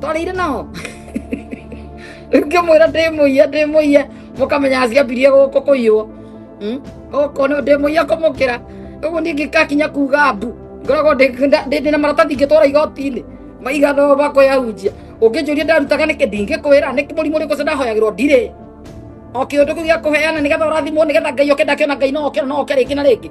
twarĩire nao ngĩmwĩra ndĩmũiya ndĩmũiya mũkamenya ciambirie gũkũ kũiywo gũkũ nĩ ndĩmũiya kũmũkĩra ũguo niĩ ngĩkakinya kuga mbu ngoragwo ndĩna maratathi ingĩtwara igoti-inĩ maigana makwĩyahunjia ũngĩnjũria ndarutaga nĩkĩ ndingĩkwĩra nĩ mũrimũ ũrĩkũ ũcio ndahoyagĩrwo ndirĩ o kĩũndũ kĩu gĩa kũheana nĩgetha ũrathimwo nĩgetha ngai oke ndakĩona ngai no oke no oke rĩngĩ na rĩngĩ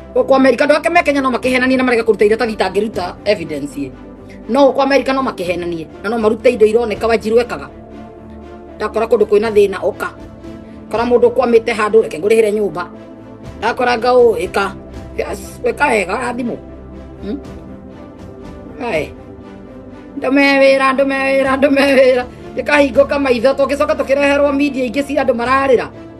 Gũkũ Amerika andũ ake me Kenya no makĩhenanie na marega kũruta iria tagitangĩruta evidence ĩ. No gũkũ Amerika no makĩhenanie na no marute indo ironeka wanjiru ekaga. Ndakora kũndũ kwĩna thĩna ũka. Kora mũndũ kwamĩte handũ reke ngũrĩhĩre nyũmba. Ndakora ngaũ ĩka. Yes, weka wega na thimũ. Hmm? Ae. Ndume wĩra, ndume wĩra, ndume wĩra. Ĩkahingũka maitho tũngĩcoka tũkĩreherwo media ingĩ cia andũ mararĩra.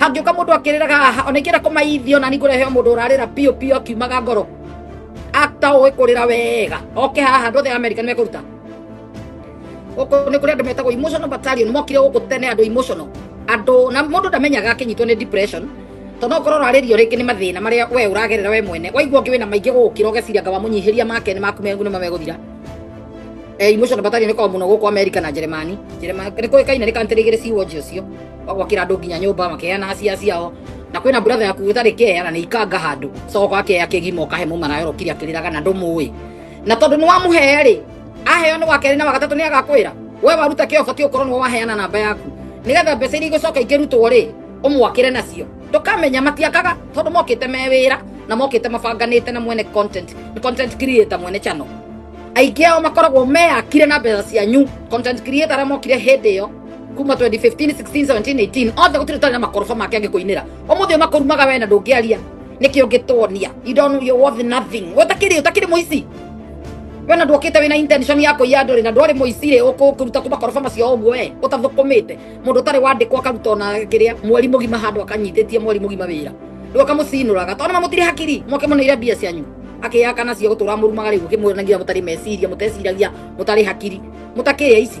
hangĩũka mũndũ akĩrĩraga haha ona ingĩra kũmaithio na ningũrehe mũndũ ũrarĩra piũ piũ akiumaga ngoro ata ũĩ kũrĩra wega oke haha andũ othe a amerika nĩ mekũruta gũkũ nĩ kũrĩ andũ metagwo emotional battalion mokire gũkũ tene andũ emotional andũ na mũndũ ndamenyaga akĩnyitwo nĩ depression tondũ okorwo ũrarĩrio rĩngĩ nĩ mathĩna marĩa we ũragerera we mwene waigua ũngĩ wĩna maingĩ gũgũkĩra ũgeciria ngaba mũnyihĩria make nĩ maku mengu nĩ mamegũthira emotional battalion ĩkoragwo mũno gũkũ amerika na njeremani njeremani nĩ kũĩkaine nĩ kantĩrĩgĩrĩ siwoji ũcio gwakira andu nginya nyumba makeana acia ciao na kwina brother yaku uthari keya na ni ikanga handu coka akeya kigima ukahe mumana yoro kiria kiriraga na ndumuwi na tondu ni wamuhe ri aheo ni wakeri na wagatatu ni agakwira we waruta kio bati ukorwo ni waheana namba yaku nigetha mbeca iria igocoka ingirutwo ri umwakire nacio tukamenya matiakaga tondu mokite me wira na mokite mabanganite na mwene content ni content creator mwene channel aingĩ ao makoragwo meyakire na mbeca cianyu content creator arĩa mokire hĩndĩ ĩyo kuma 2015 16 17 18 othe gutire tari na makoroba make angikuinira umuthi makurumaga we na ndungiaria nikio ngitonia you don't know your worth nothing we utakiri utakiri muici we na ndwokite wina intention ya kuiya andu ri na ndwari muici ri ukuruta kuma koroba macio uguo we utathukumite mundu utari wandikwo akaruta ona kiria mweri mugima handu akanyititie mweri mugima wira riu akamucinuraga tondå mamutire hakiri moke må neire mbia cianyu akĩyaka nacio gũtũra mũrumaga rĩu ũkĩmwĩranagia mũtarĩ meciria mũteciragia mũtarĩ hakiri mũtakĩrĩa ici